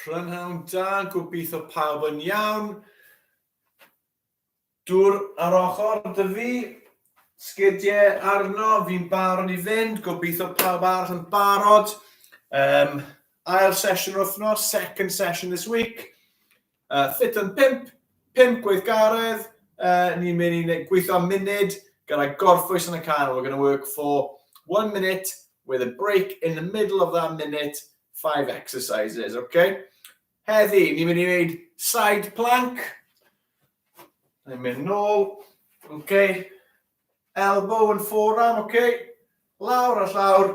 Prynhawn da, gobeithio pawb yn iawn. Dŵr ar ochr dy fi, sgidiau arno, fi'n barod i fynd, gobeithio pawb arall yn barod. Um, ail sesiwn o'r wythnos, second session this week. Uh, Fit yn 5, 5 gweithgaredd, uh, ni'n mynd i gweithio am munud gyda gorffwys yn y can. We're going to work for one minute with a break in the middle of that minute, five exercises, okay? Heddi, ni'n mynd i wneud side plank. Ni'n mynd nôl, okay? Elbow and forearm, okay? Lawr a llawr,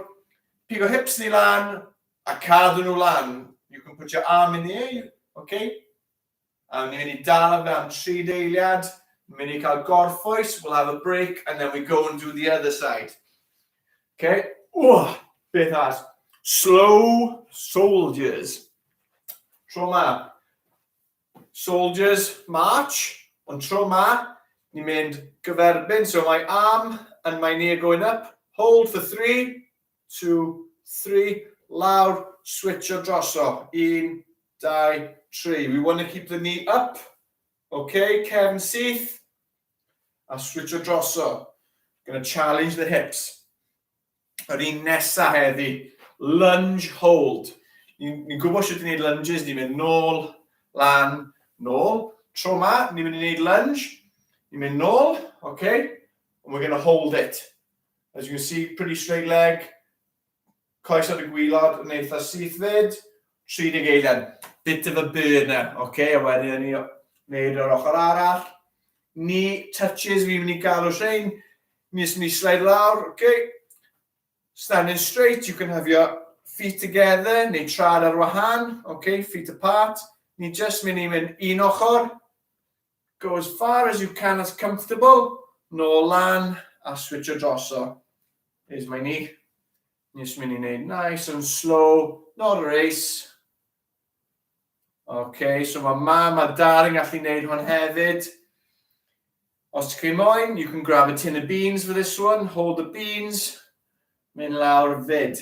pigo hips ni lan, A cadw nhw lan. You can put your arm in the air, ok? A ni'n mynd i dal fe am tri deiliad. Ni'n mynd i cael gorffwys, we'll have a break, and then we go and do the other side. Ok? Wah! Beth as? Slow soldiers. Tro ma. Soldiers march, ond tro ma, ni'n mynd gyferbyn. So my arm and my knee are going up. Hold for three, two, three, lawr, switcho droso, un, dau, tri. We want to keep the knee up, ok, cefn syth, a switcho droso. Gonna challenge the hips. Yr un nesa heddi, lunge hold. Ni'n ni gwybod sut i wneud lunges, ni'n mynd nôl, lan, nôl. Tro ma, ni'n mynd i wneud lunge, ni'n mynd nôl, okay? And we're going to hold it. As you can see, pretty straight leg. Coes ar y gwylod yn eitha syth fyd. 30 eiliad. Bit of a burn e. Oce, a wedyn ni wneud yr ochr arall. Ni touches, fi'n mynd i galw rhain. Mis mi slide lawr, oce. Standing straight, you can have your feet together, neu trad ar wahan, oce, feet apart. Ni just mynd i mynd un ochr, Go as far as you can as comfortable, nôl lan a switcho droso. Is my knee. Nis mynd i wneud nice and slow, not a race. Ok, so mae mam a dad yn gallu wneud hwn hefyd. Os ti chi moyn, you can grab a tin of beans for this one, hold the beans, mynd lawr fyd.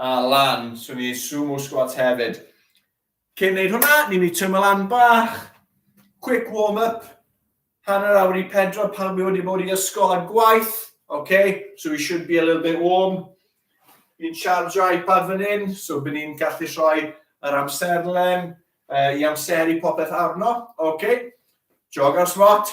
A lan, so ni sumo squats hefyd. Cyn wneud hwnna, ni'n mynd i tymio lan bach, quick warm-up, hanner awr i pedro pan mi wedi bod i ysgol a gwaith, okay? so we should be a little bit warm. Ni'n chargio iPad fan hyn, so byd ni'n gallu rhoi yr amserlen uh, i amseru popeth arno, okay? Jog ar swat,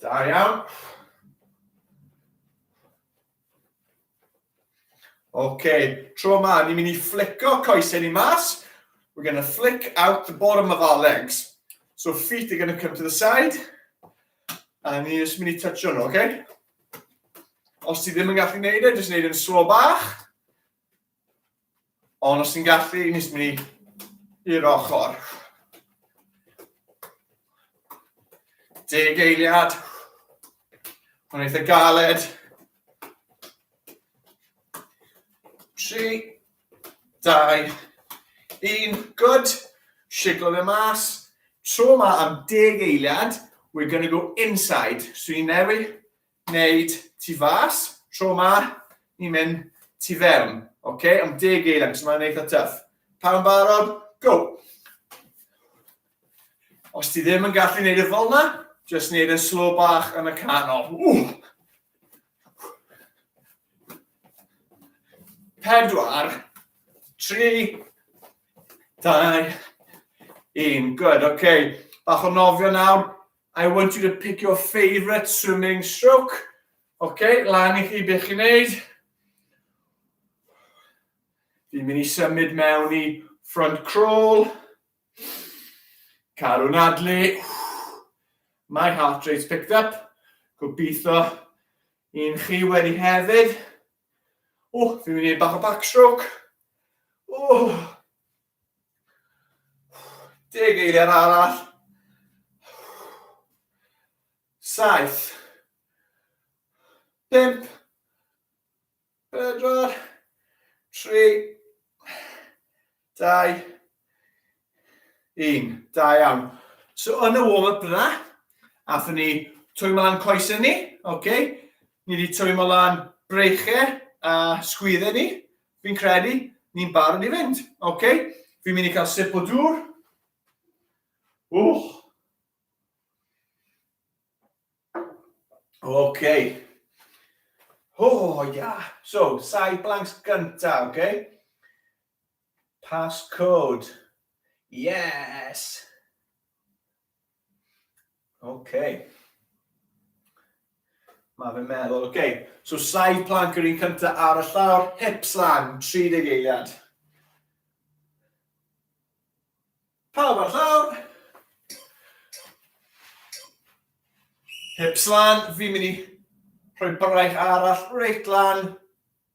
Da iawn. Ok, tro yma, ni'n mynd i fflico coesau ni mas. We're going to flick out the bottom of our legs. So feet are going to come to the side. A ni'n just mynd i touchio nhw, ok? Os ti ddim yn gallu gwneud e, jyst gwneud yn slo bach. Ond os ti'n gallu, i nes mynd i'r ochr. Deg eiliad. Mae'n eitha galed. Tri, dau, un, good. Siglo fe mas. Tro yma am deg eiliad, we're going to go inside. So i newid wneud tu fas, tro ma, ni'n mynd tu fewn. Ok, am deg eilen, so mae'n eitha tuff. Pan barod, go! Os ti ddim yn gallu gwneud y fel yna, jyst gwneud yn slow bach yn y canol. Ww! Pedwar, tri, dau, un. Good, ok. Bach o nofio nawr, I want you to pick your favourite swimming stroke. Oce, okay, lan i chi beth chi'n neud. Fi'n mynd i symud mewn i front crawl. Cadw nadlu. My heart rate's picked up. Gobeithio un chi wedi hefyd. O, fi'n mynd i bach o backstroke. O, Deg eiliad arall. Saith. Pimp. Pedwar. Tri. Dau. Un. Da iawn. So yn y warm-up yna, athyn ni twymo lan coesau ni, oce? Okay? Ni wedi twymo lan breichau a sgwyddau ni, Fi'n credu ni'n barod i fynd. OK, fi'n mynd i cael sip o dŵr. Wch. OK. O, oh, ia. Yeah. So, sai blanks gynta, OK? Passcode. Yes! Oce. Okay. Mae fe'n meddwl, oce, okay. so saif planc yr un cyntaf ar y llawr, hips lan, 30 eiliad. Pawb ar llawr. Hips lan, fi'n mynd i rhoi braich arall reit lan.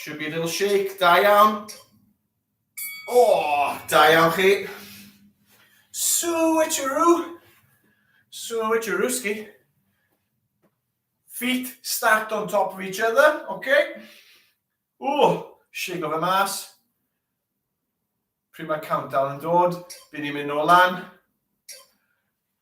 Should be a little shake, da iawn. O, oh, da iawn chi. Switcheroo. Switcherooski. Feet stacked on top of each other, okay. O, shake of a mass. Pryd mae countdown yn dod, byd ni'n mynd nôl lan.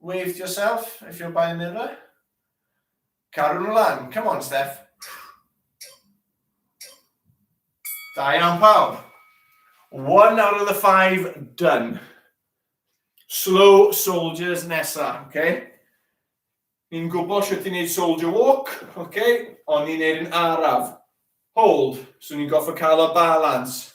Wave to yourself if you're by a mirror. Caru nhw lan. Come on, Steph. Da iawn pawb. One out of the five done. Slow soldiers nesa, okay? Ni'n gwybod sut i wneud soldier walk, okay? Ond ni'n neud yn araf. Hold, so ni'n goffa cael y balance.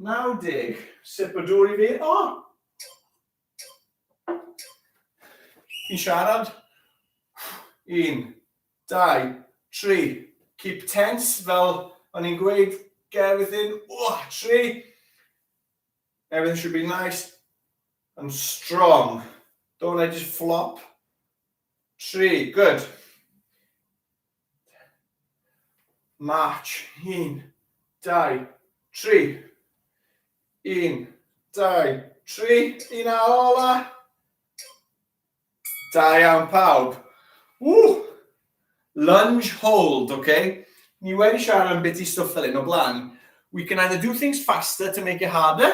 90. Sip o dŵr i fi. O! Fi'n siarad. 1, 2, 3. Keep tense, fel o'n i'n gweud, get everything. O, 3. Everything should be nice and strong. Don't let it flop. Tri, good. March, un, dau, tri. Un, dau, tri. Un a ola. Da iawn pawb. Ww! Lunge hold, oce? Okay? Ni wedi siarad am beth i stwff fel un o blaen. We can either do things faster to make it harder,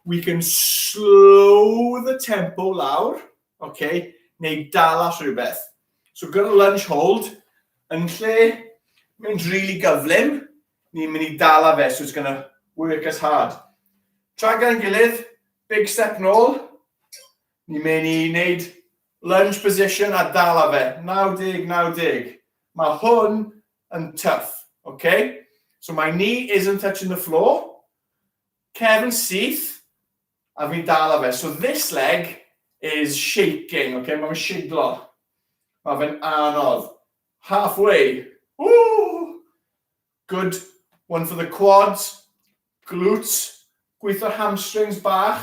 we can slow the tempo lawr, ok, neu dal at rhywbeth. So gyda lunge hold, yn lle mynd really gyflym, ni'n mynd i dal a fe, so it's gonna work as hard. Tra gan gilydd, big step nôl, ni'n mynd i wneud lunge position a dal a fe, 90, 90. Mae hwn yn tough, okay? So my knee isn't touching the floor, cefn syth, A fi'n dal ar fe. So this leg is shaking, ok, mae'n siglo. Mae fe'n anodd. Halfway. Woo! Good one for the quads, glutes, gweithio hamstrings bach.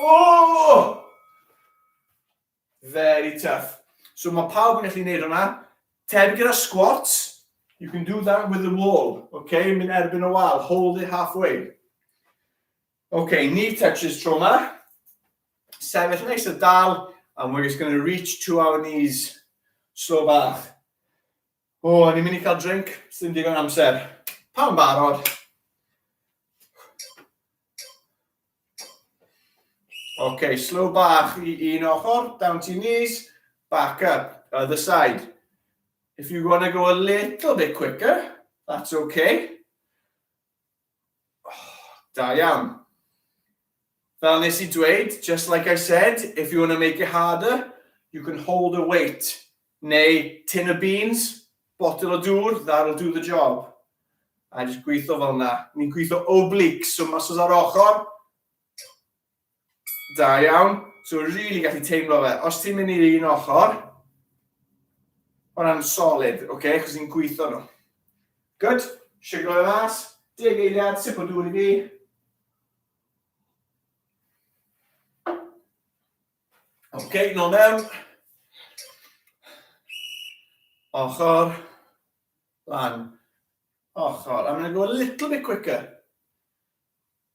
Oh! Very tough. So mae pawb yn gallu gwneud hwnna. Teb gyda squats, you can do that with the wall. Okay, mynd erbyn y wal, hold it halfway. Okay, knee touches tro yma. Sefyll neis y dal, and we're just going to reach to our knees. Slow bach. O, o'n i'n mynd i cael drink, sy'n digon amser. Pan barod. Ok, slow bach i un ochr, down to your knees, back up, other side. If you want to go a little bit quicker, that's okay. Da iawn. Fel nes i dweud, just like I said, if you want to make it harder, you can hold a weight. Neu tin o beans, botel o dŵr, that'll do the job. A jyst gweithio fel yna. Ni'n gweithio obliques, so muscles ar ochr. Da iawn. So rili gallu teimlo fe. Os ti'n mynd i'r un ochr, hwnna'n solid, oce, okay? cos ni'n gweithio nhw. Good. Siglo fe mas. Deg eiliad, sip o dŵr i fi. Ok, nol mewn. Ochr. Lan. Ochr. I'm going to go a little bit quicker.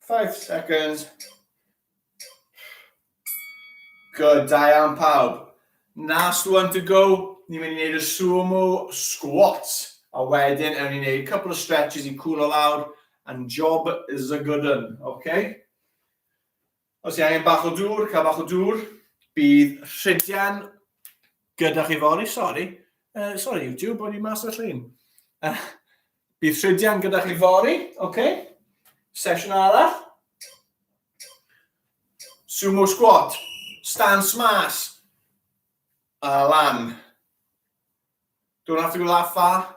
Five seconds. Good, da iawn pawb. Last one to go. Ni'n mynd i wneud y sumo squats. A wedyn, ewn ni'n wneud couple of stretches i cwlo lawr. And job is a good one, okay? Os i angen bach o dŵr, cael bach o dŵr. Bydd rhydian gyda chi fori, sori. Uh, sori, YouTube, bod i mas o'r llun. Uh, bydd rhydian gyda chi fori, oce. Okay. Sesiwn arall. Sumo squat, stance mas, a lan. Don't have to go that far.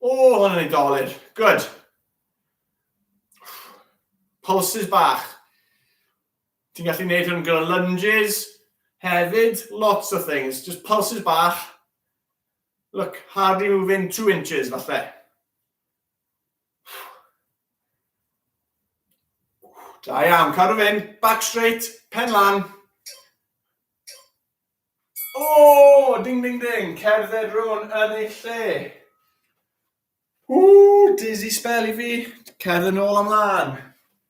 O, hwn yn ei dolur. Good. Pulses bach. Ti'n gallu gwneud hwn gyda lunges hefyd, lots o things. Just pulses bach. Look, hardly moving two inches, falle. Da iawn, cadw fynd, back straight, pen lan. Ooh! Ding ding ding! Cerdded run yn ei lle! Ooh! Dizzy spell i fi! Cerdded nôl am lan!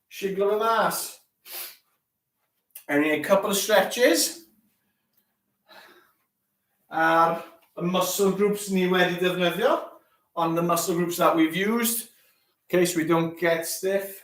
Siglo fe mas! Ewn ni a couple of stretches. Ar y muscle groups ni wedi defnyddio, on the muscle groups that we've used, in case we don't get stiff.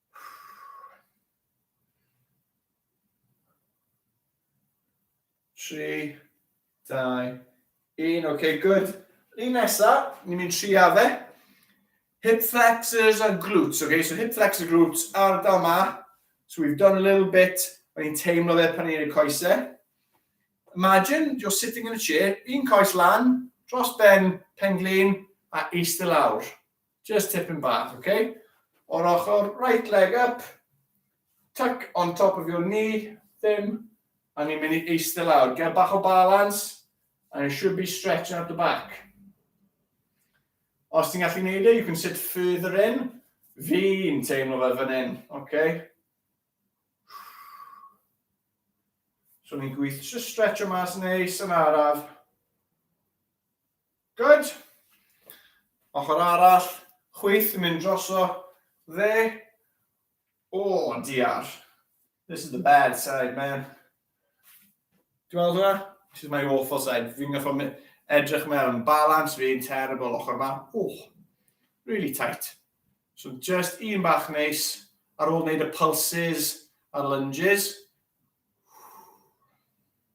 Tri, dau, un. OK, good. Un nesa, ni'n mynd tri a fe. Hip flexors a glutes, OK? So hip flexor glutes, ardal ma. So we've done a little bit, o'n i'n teimlo fe pan i'n ei coesau. Imagine you're sitting in a chair, un coes lan, dros ben, pen glin, a eist y lawr. Just tipyn bach, oce? Okay? O'r ochr, right leg up, tuck on top of your knee, ddim, a ni'n mynd i eistedd lawr. Gael bach o balance, and you should be stretching out the back. Os ti'n gallu gwneud e, you can sit further in. Fi'n teimlo fel fan hyn, oce? Okay? So ni'n gweithio, just stretch o mas yn neis yn araf. Good. Ochr arall, chwith yn mynd droso fe. O, diar. This is the bad side, man. Dwi'n meddwl hwnna? This is my awful side. Fi'n gaffo edrych mewn. Balance fi'n terrible ochr ma. Oh, really tight. So just un bach neis ar ôl wneud y pulses a'r lunges.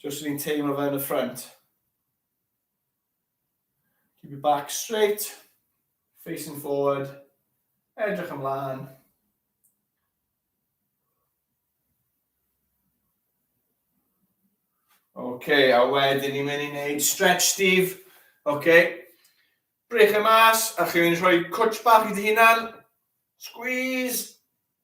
Just ni'n teimlo fe yn y ffrant. Keep your back straight, facing forward, edrych ymlaen. OK, a wedyn ni'n mynd i wneud stretch Steve. OK, brech e mas, a chi'n mynd i rhoi cwtch bach i dy hunan. Squeeze.